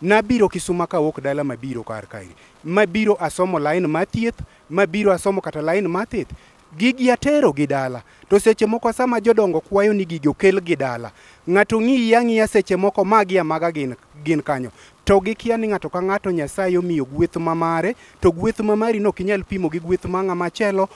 nabiro kisuma kawuok dala mabiro kar kae mabiro asomo lain ma thieth mabiro asomo kata lain ma thith gigi atero gi dala to seche moko sama jodongo kwayo ni gigi okel gi dala ng'ato ng'iyi ang'iya seche moko magi amaga gin, gin kanyo to gikia ni ng'ato ka ng'ato nyasaye omiyo gweth ma mare to gweth ma mari no ok inyal pimo gi gweth ma ng'ama chelo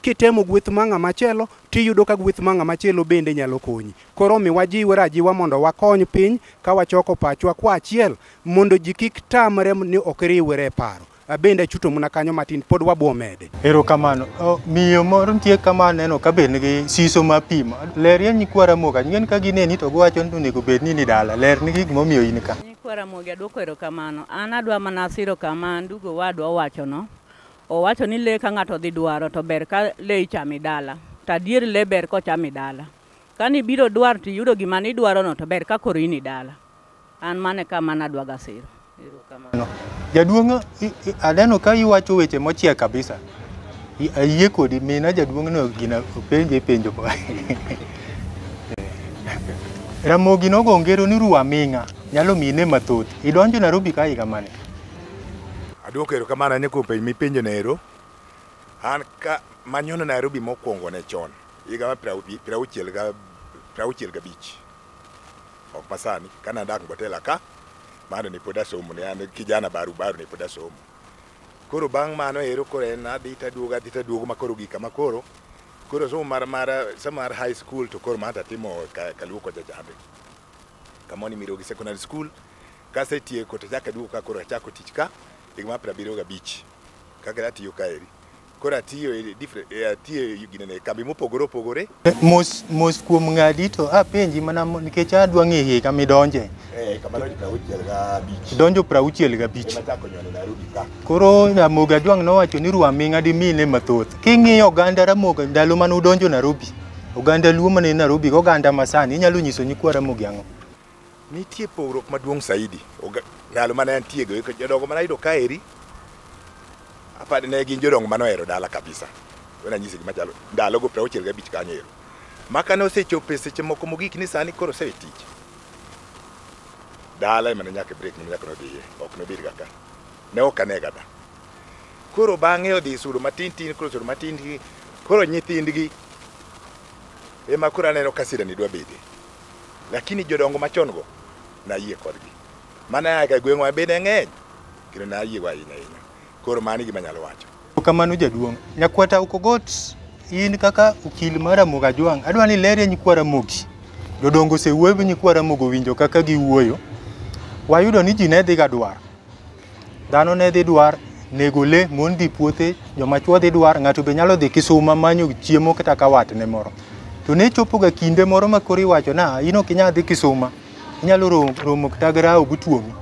Kitemo gweth ma ng'ama chelo, tiyudo ka gweth ma ng'ama chelo bende nyalo konyi. Koro omi wajiwre ajiwa mondo wakony piny ka wachoko pachwa kwa achiel mondo ji kik tamre ni ok riwre e paro. Abende achuto mna kanyo matin, pod wabwo mede. Erokamano. O, miyo moro nitie kama aneno ka be nigi siso ma pimo. Ler ye nyikwa Ramogi. Ang'eyo ni ka gineni to giwacho ni onego bed ni in dala. Ler ni gik momiyo in ka. Nyikwa Ramogi aduoko erokamano. An adwa mana siro kama ndugu owadwa owachono. Owacho ni le ka ng'ato dhi dwaro to ber ka le ichami dala. To adier le ber kochami dala. Ka nibiro dwar to iyudo gima nidwarono to ber ka koro in idala. An mano e ka mane adwaga siro. Erokamano. Jaduong' i- i- aneno ka iwacho weche mochiek kabisa. I- Ayie kodi mina jaduong'no gina openje penjo. mo- Ramogi nogo ngero ni ruwa ming'a nyalo mine mathoth. Idonjo Nairobi ka higa mane? Aduoko erokamano ahinya kuom penjo mipenjo na ero. An ka manyono Nairobi mokwongo ne chon higa mar prauchiel ga prauchiel gabich ok masani kane adak Mbotela ka mano ne pod asomo ne an kijana baru baru ne pod asomo koro bang' mano ero koro en adhi taduogo adhi taduogo ma koro gika ma koro koro somo mar mar somo mar high school to koro mano tatimo ka- kaluo kocha chande Kama ni Mirogi Secondary School. Kasetieko to achako aduogo ka koro achako tich ka higa mar piero abiriyo gabich kaka atiyo kaeri. Koro atiyo e different e atiyo e gine ne kambi mopogore opogore. Mos mos kuom ng'adi to apenji mana mo- nikech adwa ng'e higa midonje. Eh kamano ji prauchiel gabich. Donjo prauchiel gabich. Ema chako nyono Nairobi ka. Koro Ramogi Adwang' nowacho ni Rwaming'a dimine mathoth. King'iyo oganda Ramogi ndalo mane udonjo Nairobi, Oganda Luo mane Nairobi oganda masani inyalo nyiso nyikwa Ramogi ang'o? Nitie pogruok maduong' saidi. Ndalo mane antie go jodongo mane ayudo kaeri apani ne gin jodongo mane ohero dala kabisa. Wena anyisi gima chalo ndalo go 65 gabich kanyo ero. Maka ne osechopo e seche moko mogik ni sani koro osewe tich. Dala emane nyaka break ni nyaka nodhiye ok nobed ga ka. Ne ok ane gada. Koro bang'e odhi isudo matin tin koro sudo matin tin koro nyithindgi ema koro aneno ka sirani dwa bede lakini jodongo machon go nayie kodgi mana aka gweng'wa bende ng'eny kendo nayie go ahinya ahinya koro mano e gima anyalo wacho Kamano jaduong'. Nyakwata Okogot in kaka okil mar Ramogi Ajwang', adwa ni ilerie nyikwa Ramogi. Jodongo osewuoyo gi nyikwa Ramogi owinjo kaka giwuoyo. Wayudo ni ji ne dhiga dwar. Dhano ne dhi dwar nego le, mon dhi puothe, joma chwo dhi dwar, ng'ato be nyalo dhi kisuma manyo chiemo kata ka watne moro. To ne chopoga kinde moro ma koro iwacho na in ok inyal dhi kisuma, inyalo romo, romo kata gi rawo gutuomi.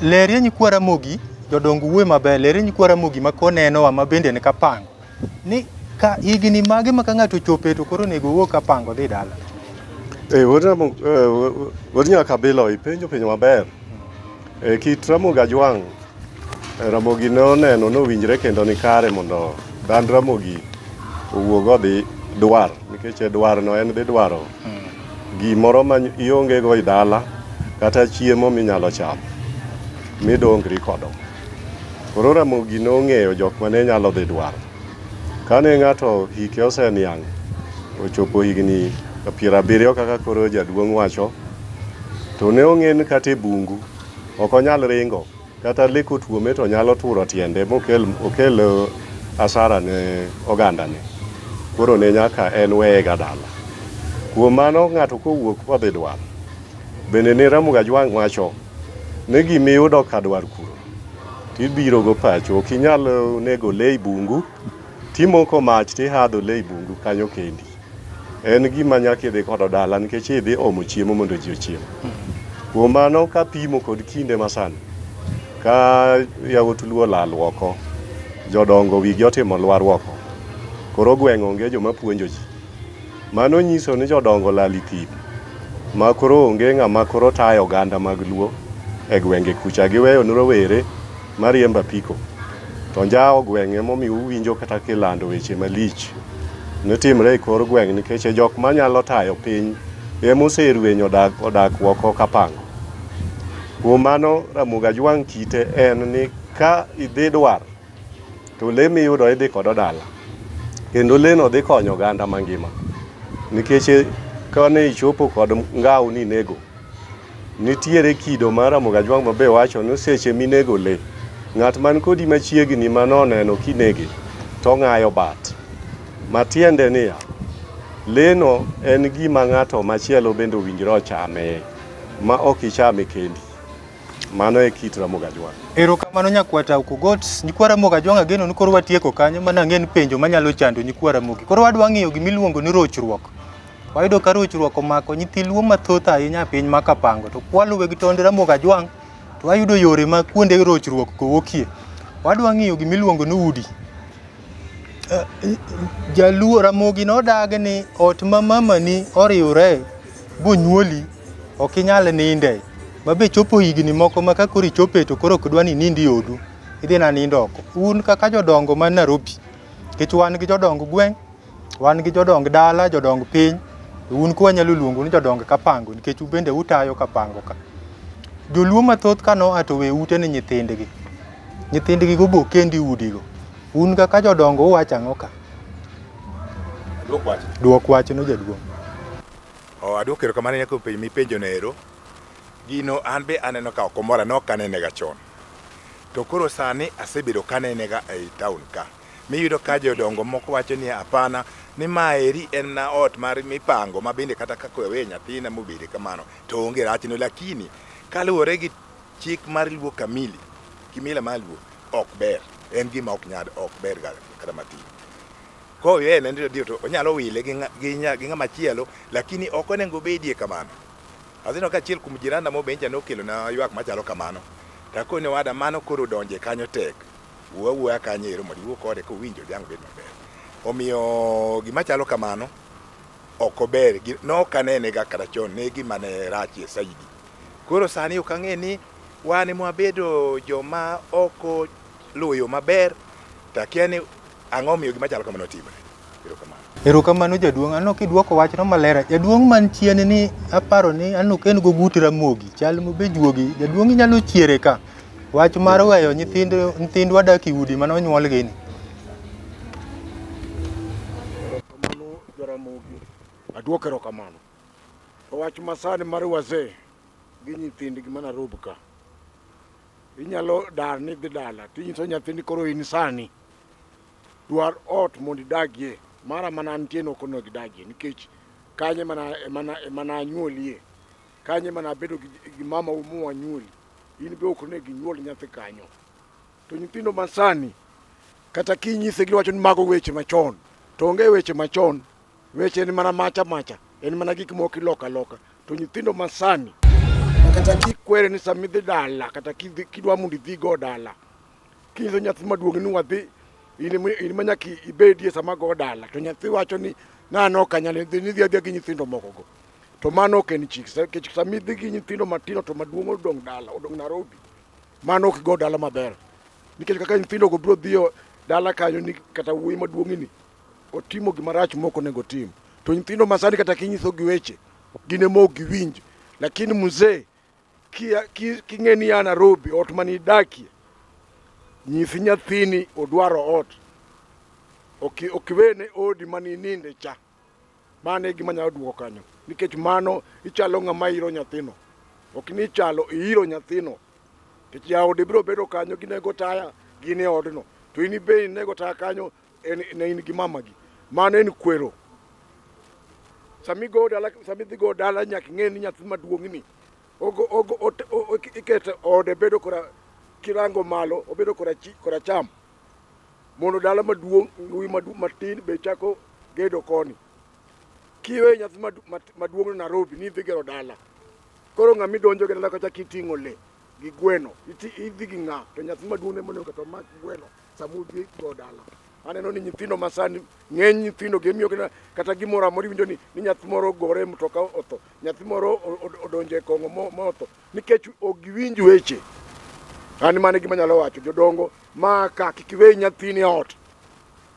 Lerie nyikwa Ramogi, jodong wuoye maber, lerie nyikwa Ramogi ma konenowa ma bende en kapango. ni ka higni mage ma ka ng'ato ochope to koro onego owuog ka pango dhi dala Eh, wuod Ramo- eh, wu- wuod Nyakabilo ipenjo penjo maber. Eh, kit Ramogi Ajwang', eh, Ramogi ne oneno nowinjre kendo ni kare mondo dan Ramogi owuog odhi dwar nikech e dwarno en dhi dwaro gimoro ma iongego i dala kata chiemo minyalo chamo midongri kodo. Koro Ramogi nong'eyo jok mane nyalo dhi dwaro. Kane ng'ato hike oseniang' ochopo higni piero abiriyo kaka koro jaduong' wacho, to ne ong'en kata e bungu ok onyal ringo kata le kotuome to nyalo turo tiende mokel okel eh, asara ne ogandane. Koro ne nyaka en weyega dala. Kuom mano ng'ato kowuok kodhi dwaro Bende ne Ramogi Ajwang' wacho ni gima iyudo ka dwar kuro to ibiro go pacho. Ok inyal nego le e bungu to imoko mach to ihadho le e bungu kanyo kendi. En gima nyaka idhi kodo dala nikech idhi omo chiemo mondo ji ochiem. Kuom mano kapimo kod kinde masani, ka yawuot luo olal oko, jodongo wigi otimo lwar oko, koro gweng' onge joma puonjo ji. Mano nyiso ni jodongo olal i thim ma koro onge ng'ama koro tayo oganda mag Luo e gwenge kucha. Giweyo ne rowere mariembo apiko. To njawo gweng' emomiyo uwinjo kata kilando weche malich ne timre e kor gweng' nikech e jok manyalo tayo piny ema oserwenyo odak, odak oko ka pango. Kuom mano Ramogi Ajwang' kite en ni ka idhi dwar to le miyudo idhi kodo dala kendo leno dhi konyo oganda mangima nikech e, kane ichopo kod ngaw ni nego nitiere kido mar Ramogi Ajwang' mabe wacho ni seche minego le ng'at man kodi machiegni manoneno kinege to ng'ayo bat matiende niya leno en gima ng'ato machielo bende owinjre ochame ma ok ichame kendi Mano e kit Ramogi Ajwang'. Erokamano nyakwata Okogot, nyikwa Ramogi Ajwang' ageno ni koro watieko kanyo mana ang'e ni penjo manyalo chando nyikwa Ramogi. Koro wadwa ng'eyo gima iluongo ni rochruok. Wayudo ka rochruok omako nyithi luo mathoth ahinya e piny ma Kapango to kwaluwe gi tond Ramogi Ajwang' to wayudo yore ma kuonde rochruok go wuokie. Wadwa ng'eyo gima iluongo ni udi. Eh, jaluo ramogi nodagi ni ot ma mamani oriwre bonyuoli ok inyal ninde ma be chopo higni moko ma ka koro ichope to koro ok dwa ni nindi odu idhi na nindo oko un kaka jodongo man Nairobi kech wan gi jodong gweng' wan gi jodong dala jodong piny un kwa nyalo luongo ni jodong kapango nikech ubende utayo kapango ka joluo mathoth kano ato we ute ni nyithindgi Nyithindgi go bo kendi udigo. Un kaka jodongo uwacho ang'o ka? Dwok wach. Dwok wach no jaduong'. Oh, adwoko erokamano ne kuom penjo mipenjo no ero. Gino an be aneno ka ok omora ne ok anene ga chon. To koro sani asebedo ka anene ga ei town ka. Miyudo ka jodongo moko wacho ni hapana ni ma eri en na ot mar mipango ma bende kata ka kowe nyathina mobede kamano to onge rachne lakini kaluwore gi Chik mar luo kamili kimila mar luo ok ber, en gima ok nyad ok ber ga kata matin. Koyo en ndio ndio to onyalo wile gi ng'a- gi nya- gi ng'ama chielo lakini ok onego obedie kamano. Azino ka achiel kuom jiranda mobenja nokelo na ywak machalo kamano. Takone wada mano koro donje kanyo tek. Wuo wuoya kanyo ero mondo iwuo kode kowinjo jang bed maber. Omiyo gima chalo kamano ok ober gi- nokanenega kata chon ne gima ne rachie saidi Koro sani ok ang'e ni wan ema wabedo joma ok oluwo yo maber to akia ni ang'o omiyo gima chalo kamano timore. Erokamano. Erokamano jaduong', aneno kidwoko wachno maler. Jaduong' man chien ni aparo ni aneno ka en gogut ramogi, chal mobe juogi. Jaduong' inyalo chiere ka. Wach mar weyo nyithind nyithindwa dak e udi mane onyuolgi ni. Aduoko erokamano. Wach masani mar wazee gi nyithindgi mana rob ka. Inyalo dar ni dhi dala tinyiso nyathini koro in sani dwar ot mondo idagie mara mana antie no kono gidagie nikech kanye mana mana mana anyuolie kanye mana bedo gi, gi mama umu anyuoli in be ok ne ginyuol nyathi kanyo to nyithindo masani kata kinyise giwacho ni mago weche machon to onge weche machon Weche en mana macha macha, en mana gik moko iloka loka. To nyithindo masani kata kikwere ni sama idhi dala kata kidwa mondo idhigo dala kinyiso nyathi maduong' ni wadhi in ma nyaka ibedie sama go dala to nyathi wacho ni nano ok anyal dhi nidhi adhiya gi nyithindo mokogo to mano ok en chik nikech sama idhi gi nyithindo matindo to maduong' odong' dala odong' Nairobi mano ok go dala maber nikech kaka nyithindogo biro dhiyo dala kanyo ni kata wuoyi maduong'ni otimo gima rach mok onego otim to nyithindo masani kata kinyiso gi weche gin ema ok giwinj lakini mzee king'e ni ya Nairobi ot mane idakie nyisi nyathini odwaro ot okiwene odi mane ininde cha mano e gima nyalo duoko kanyo nikech mano ichalo ng'ama iro nyathino ok ni ichalo iiro nyathino nikech jaode biro bedo kanyo ginego taya gin e odno to in ibe inego taya kanyo en ne in gi mamagi mano en kwero sami go dala sami dhi go dala nyaka ing'e ni nyathi maduong'ni ogo ogo ot- o- o- ikete ode bedo kora kirango malo obedo kora chi kora cham mondo dala maduong' wi madu- matin be chako gedo koni kiwe nyathi madu- mat- maduong'no Nairobi ni idhi gero dala koro ng'ama idonjo gi dala kacha kiting'o le gi gweno iti- idhi gi ng'a to nyathi maduong' ne monego to mak gweno samudhi go dala aneno ni nyithindo masani ng'eny nyithindo gi miyo kata gimoro amoro iwinjo ni ni nyathi moro gore mtoka otho nyathi moro odonjo e kong'o ma otho nikech ok giwinj weche an mane gima nyalo wacho jodongo ma ka kik iwe nyathini e ot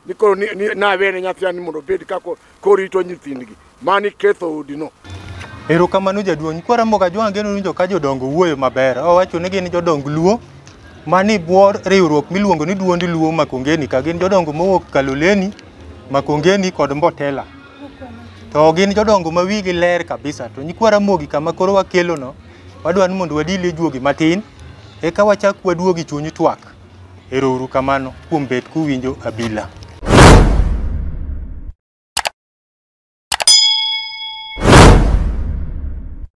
ni koro nawene nyathi ani mondo obed kako korito nyithindgi mani ketho odino. Erokamano jaduong'. Kwa Ramogi Ajwang' ageno winjo ka jodongo wuoyo maber. Owacho ni gin jodong Luo mani bwo riwruok miluongo ni duond Luo Makongeni ka gin jodongo mowuok Kaloleni, Makongeni kod Mbotela. To gin jodongo ma wigi ler kabisa. To nyikwa Ramogi kama koro wakelono, wadwa ni mondo wadil e juogi matin, eka wachak waduogi chuny twak. Ero uru kamano kuom bet kuwinjo abila.